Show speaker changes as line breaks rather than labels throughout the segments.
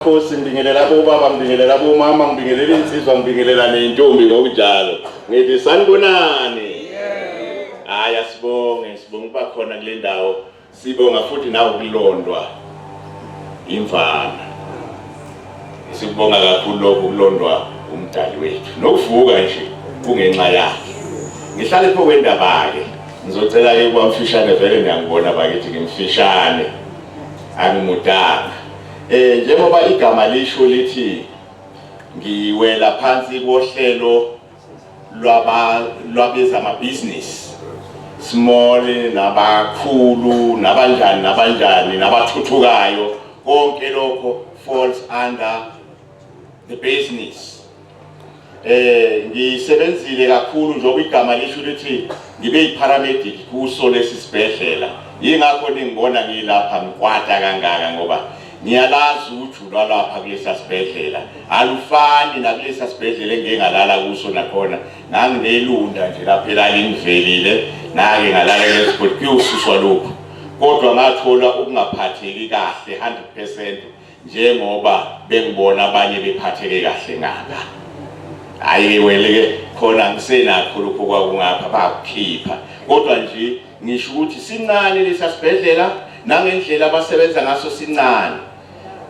Nkosi ngibingelela bobaba ngibingelela bomama ngibingelela insizwa ngibingelela neyintombi ngokunjalo ngithi sanibonani hayi asibonge sibonga ukuba khona kule ndawo sibonga futhi nawe ukulondwa imvana sikubonga kakhulu lokhu kulondwa umdali wethu nokuvuka nje kungenxa yakhe ngihlale pho kwendaba-ke ngizocela-ke kwamfishane vele ngiyangibona bakithi ngimfishane angimudanga Eh njengoba igama lisho lithi ngiwela phansi kohlelo lwaba lwabezama business small nabakhulu nabanjani nabanjani nabathuthukayo konke lokho falls under the business eh ngisebenzile kakhulu njengoba igama lisho ukuthi ngibe yiparamedic kuso lesi sibhedlela yingakho ningibona ngilapha ngikwata kangaka ngoba ngiyalazi ukuthi ulwalapha kulesa sibhedlela alufani nakulesa sibhedlela engingalala kuso nakhona nganginelunda nje lapha elalingivelile ngake ngalala lesigodi kuyosuswa lokhu kodwa ngathola ukungaphatheki kahle 100% njengoba bengibona abanye bephatheke kahle ngaka hayi weleke khona ngisenakho lokho kwakungapha bakukhipha kodwa nje ngisho ukuthi sincane lesa sibhedlela nangendlela abasebenza ngaso sincane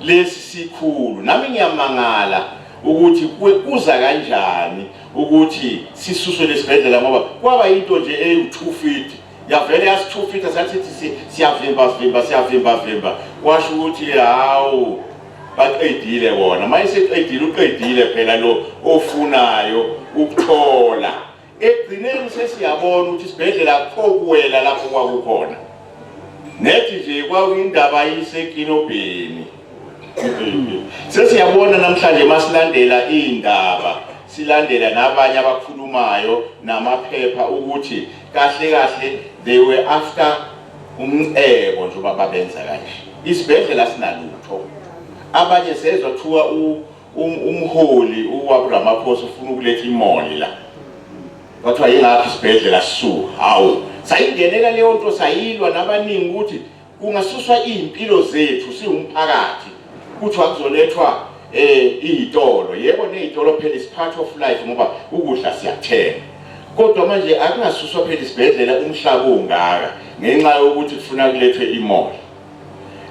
lesi sikhulu nami ngiyamangala ukuthi kuza kanjani ukuthi sisuswe lesibhedlela ngoba kwaba into nje eyu2 feet yavele yasithufitha sathi siyavimba vimba siyavimba vimba kwasho ukuthi hawu baqedile wona uma eseqedile uqedile phela lo ofunayo ukuthola ekugcineni sesiyabona ukuthi isibhedlela akukho kuwela lapho kwakukhona nethi nje kwakuyindaba yisekinobheni sesiyabona namhlanje masilandela iy'ndaba silandela nabanye abakhulumayo namaphepha ukuthi kahle kahle they were after umcebo nje uba babenza kanje isibhedlela sinalutho abanye sezwa kuthiwa umholi uwaburamaphosa ufuna ukuletha imoli la kwathiwa yingakho isibhedlela sisuka hawu sayingenela leyo nto sayilwa nabaningi ukuthi Kungasuswa izimpilo zethu siwumphakathi kuthiwa kuzolethwa eh izitolo yebo nezitolo phela is part of life ngoba ukudla siyathenga kodwa manje akungasuswa phela isibhedlela umhlaba ungaka ngenxa yokuthi kufuna kulethwe imoli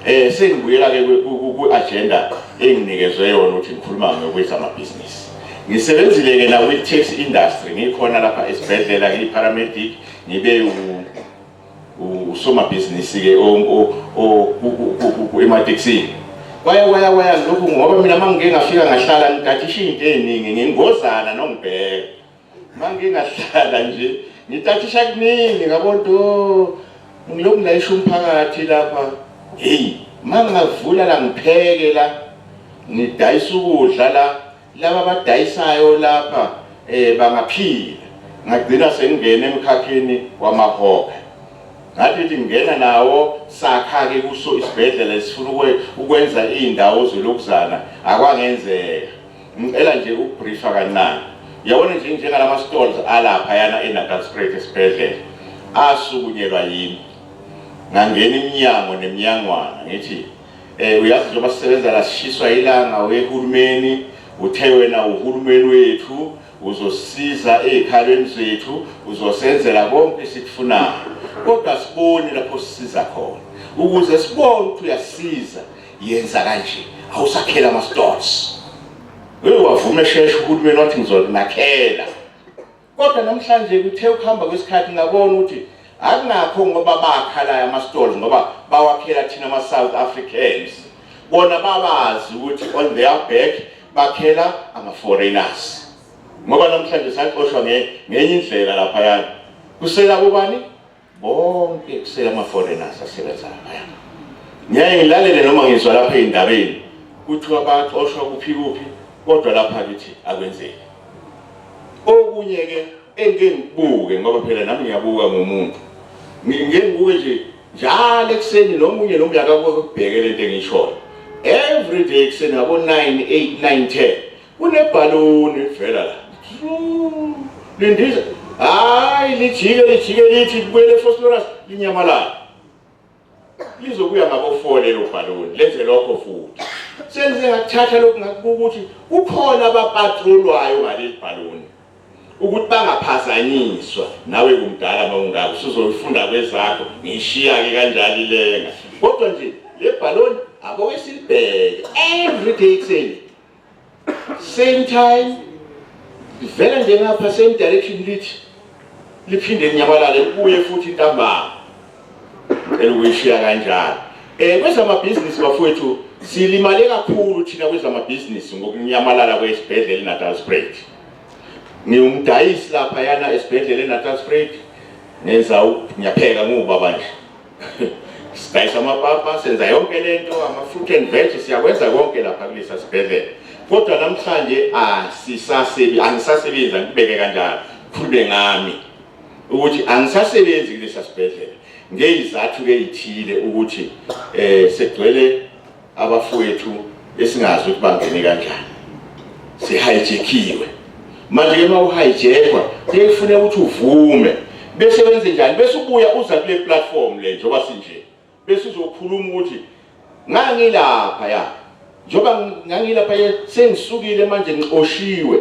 eh sengibuyela ke ku agenda enginikezwe yona ukuthi ngikhuluma ngokwethu amabhizinisi ngisebenzile ke na with tax industry ngikhona lapha esibhedlela ngiyi paramedic ngibe usomabhizinisi-ke ematekisini kwaya kwaya kwaya lokhu ngoba mina uma ngike ngafika ngahlala ngitathisha iy'nto ey'ningi ngingozana nongibheka uma ngike ngahlala nje ngitathisha kuningi ngabonto oh, ngilokhu ngilayisha umphakathi lapha heyi uma ngingavula la ngipheke la ngidayisa ukudla la Laba abadayisayo lapha eh bangaphila. Ngagcina sengingena emkhakheni wamahobhe. Ngathi ngithi ngingena nawo sakha ke kuso isibhedlela esifuna ukwe- ukwenza izindawo zolokuzana akwangenzeka. Ngicela nje ukubriefa kancane. Uyabona nje njengalama stalls alapha yana eNatal Street esibhedlela asukunyelwa yimi. Ngangena iminyango neminyangwana ngithi Eh uyazi njengoba sisebenza la sishiswa ilanga wehulumeni uthe wena uhulumeni wethu uzosiza ezikhalweni zethu uzosenzela konke esikufunayo kodwa sibone lapho sisiza khona ukuze sibone ukuthi uyasiza yenza kanje awusakhela ama stores wewe wavume sheshe uhulumeni wathi ngizonakhela Kodwa namhlanje kuthe ukuhamba kwesikhathi ngabona ukuthi akunakho ngoba bakhala ama-stores ngoba bawakhela thina ama-south africans bona babazi ukuthi on their back bakhela ama-foreigners ngoba namhlanje saxoshwa ngenye indlela laphayana kusela kubani bonke kusele ama-foreigners asebenza laphaya ngiyaye ngilalele noma ngizwa lapha ey'ndabeni kuthiwa baxoshwa kuphi kuphi kodwa lapha kithi akwenzeki okunye-ke engike ngibuke ngoba phela nami ngiyabuka ngomuntu ngike ngibuke nje njalo ekuseni nomunye nomunye akakubheke le nto engishoyo every day ekuseni ngabo-nine eight nine ten Kunebhaloni livela la. Lindiza. Hayi lijike lijike lithi kubuyele phosphorus linyamalala. Lizokuya ngabofole lo bhaloni lenze lokho futhi. Senze ngathatha lokhu ngakukuthi kukhona abapatrolwayo ngaleli bhaloni. ukuthi bangaphazanyiswa nawe kumdala mawungako sizolifunda kwezakho ngishiya-ke kanjalo ilenga kodwa nje le bhaloni aboke silibheke every day ekuseni same time livela nje ngapha same direction lithi liphinde linyamalale libuye futhi intambama cela ukuyishiya kanjalo um kwezamabhizinisi bafowethu silimale kakhulu thina kwezamabhizinisi ngokunyamalala kwesibhedlela inatal sprat ngiwumdayisi lapha yana esibhedlela enatal sprat ngenza ngiyapheka ngubaba nje sidayisa amapapa senza yonke lento ama-fruit and veg siyakwenza konke lapha kulesa sibhedlela kodwa namhlanje asisasebi angisasebenzi angibeke kanjalo khulume ngami ukuthi angisasebenzi kulesa sibhedlela ngeyizathu keyithile ukuthi um segcwele abafowethu esingazi ukuthi bangene kanjani sihayijekhiwe manje ke uma uhayijekwa kuye kufuneka ukuthi uvume bese wenze njani bese ubuya uza kule platform le njengoba sinje bese uzokhuluma ukuthi ngangilapha ya njengoba ngangilapha ye sengisukile manje ngixoshiwe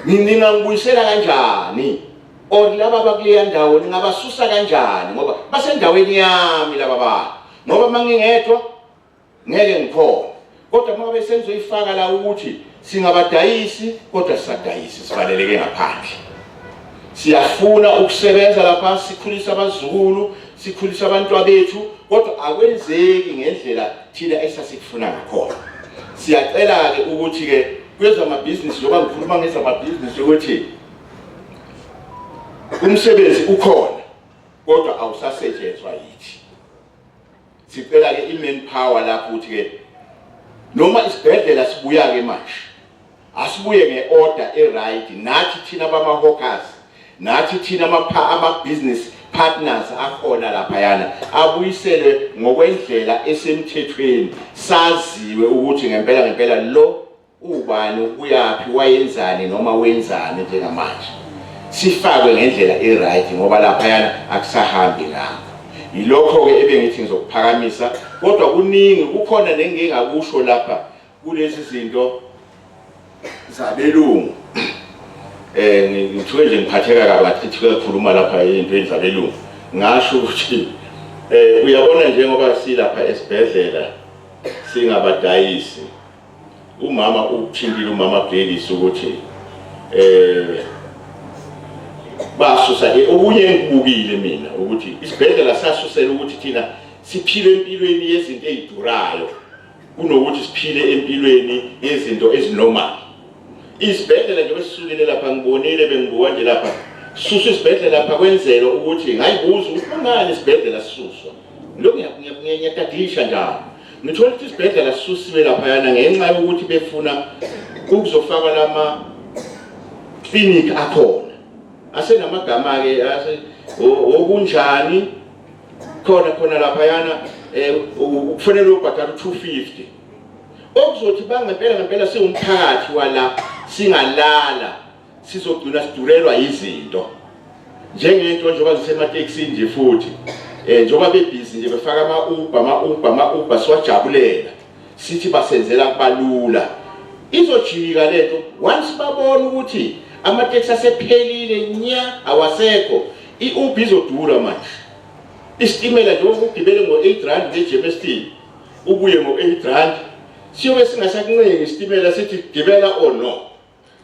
ningangibuyisela kanjani or laba bakuleya ndawo ningabasusa kanjani ngoba basendaweni yami laba bantu ngoba uma ngingedwa ngeke ngikhona kodwa uma ngabe sengizoyifaka la ukuthi singabadayisi kodwa sisadayisi sivaleleke ngaphandle siyafuna ukusebenza lapha sikhulisa abazukulu sikhulisa abantu abethu kodwa akwenzeki ngendlela thina esasikufuna ngakhona siyacela-ke ukuthi-ke kwezamabhizinisi njengoba ngikhuluma ngezamabhizinisi ukuthi umsebenzi ukhona kodwa awusasetshenzwa yithi sicela ke i-main power lapho ukuthi ke noma isibhedlela sibuya ke manje asibuye nge-order e-right nathi thina bama-hawkers nathi thina ama-business partners akhona laphayana abuyiselwe ngokwendlela esemthethweni saziwe ukuthi ngempela ngempela lo Ubani, ubuyaphi, wayenzani noma wenzani njengamanje. Sifakwe ngendlela e-right ngoba laphayana akusahambi ngakho. Yilokho-ke ebengithi ngizokuphakamisa kodwa kuningi kukhona nengingakusho lapha kulezi zinto zabelungu eh ngithiwe nje ngiphatheka kabi achithi kuyakhuluma lapha ezintweni zabelungu ngasho ukuthi eh uyabona njengoba silapha esibhedlela singabadayisi Umama ukuthintile umama Gladys ukuthi eh basusa ke okunye engikubukile mina ukuthi isibhedlela sasusela ukuthi thina siphile empilweni yezinto ezidurayo kunokuthi siphile empilweni yezinto ezinormal isibhedlela nje besisukile lapha ngibonile bengibuka nje lapha susu isibhedlela lapha kwenzela ukuthi ngayibuza ukuthi kungani isibhedlela sisuswa lokho ngiyakutadisha njalo Ngithola ukuthi isibhedlela sisusiwe laphayana ngenxa yokuthi befuna ukuzofakwa lama clinic akhona asenamagama ke okunjani khona khona laphayana eh, ukufanele ubhadala 250 okuzothi bangempela ngempela siwumphakathi wala singalala sizogcina sidurelwa yizinto njengento njengoba zisemateksini nje futhi um njengoba bebhizi nje befaka ama-uba ama-uba ama-uba siwajabulela sithi basenzela kubalula izojika le nto once babona ukuthi amateksi asephelile nya awasekho i-uba izodura manje isitimela njengoba ugibele ngo-eight rand nge-jmst ubuye ngo-eight rand siyobe singasakuncengi isitimela sithi gibela or no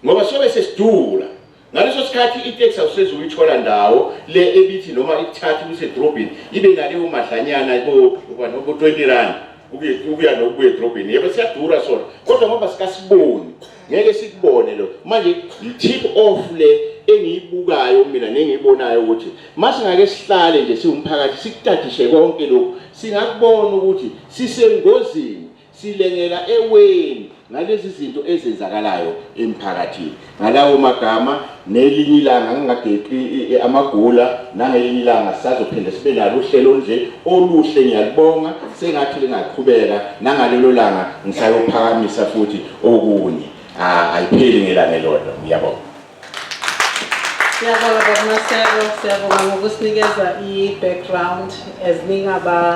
Ngoba sobe sesidula. Ngaleso sikhathi iteksi awuseze uyithola ndawo le ebithi noma ikuthatha ikuse edrobheni ibe naleyo madlanyana bo-20 rand ukuya nokubuya edrobheni yebo siyadura sona kodwa ngoba sikasiboni ngeke sikubone lo manje yi-tip off le engiyibukayo mina nengiyibonayo ukuthi masingake sihlale nje siwumphakathi sikutadishe konke lokhu singakubona ukuthi sisengozini Silengela eweni ngalezi zinto ezenzakalayo emphakathini. Ngalawo magama nelinye ilanga ngingageqi amagula nangelinye ilanga sisazophinde sibe nalo uhlelo nje oluhle ngiyalibonga sengathi lingaqhubeka nangalelo langa ngisayophakamisa futhi okunye ayipheli ngelanga elodwa ngiyabonga Siyabonga Baba Maseko,
siyabonga ngokusinikeza i-background as ningaba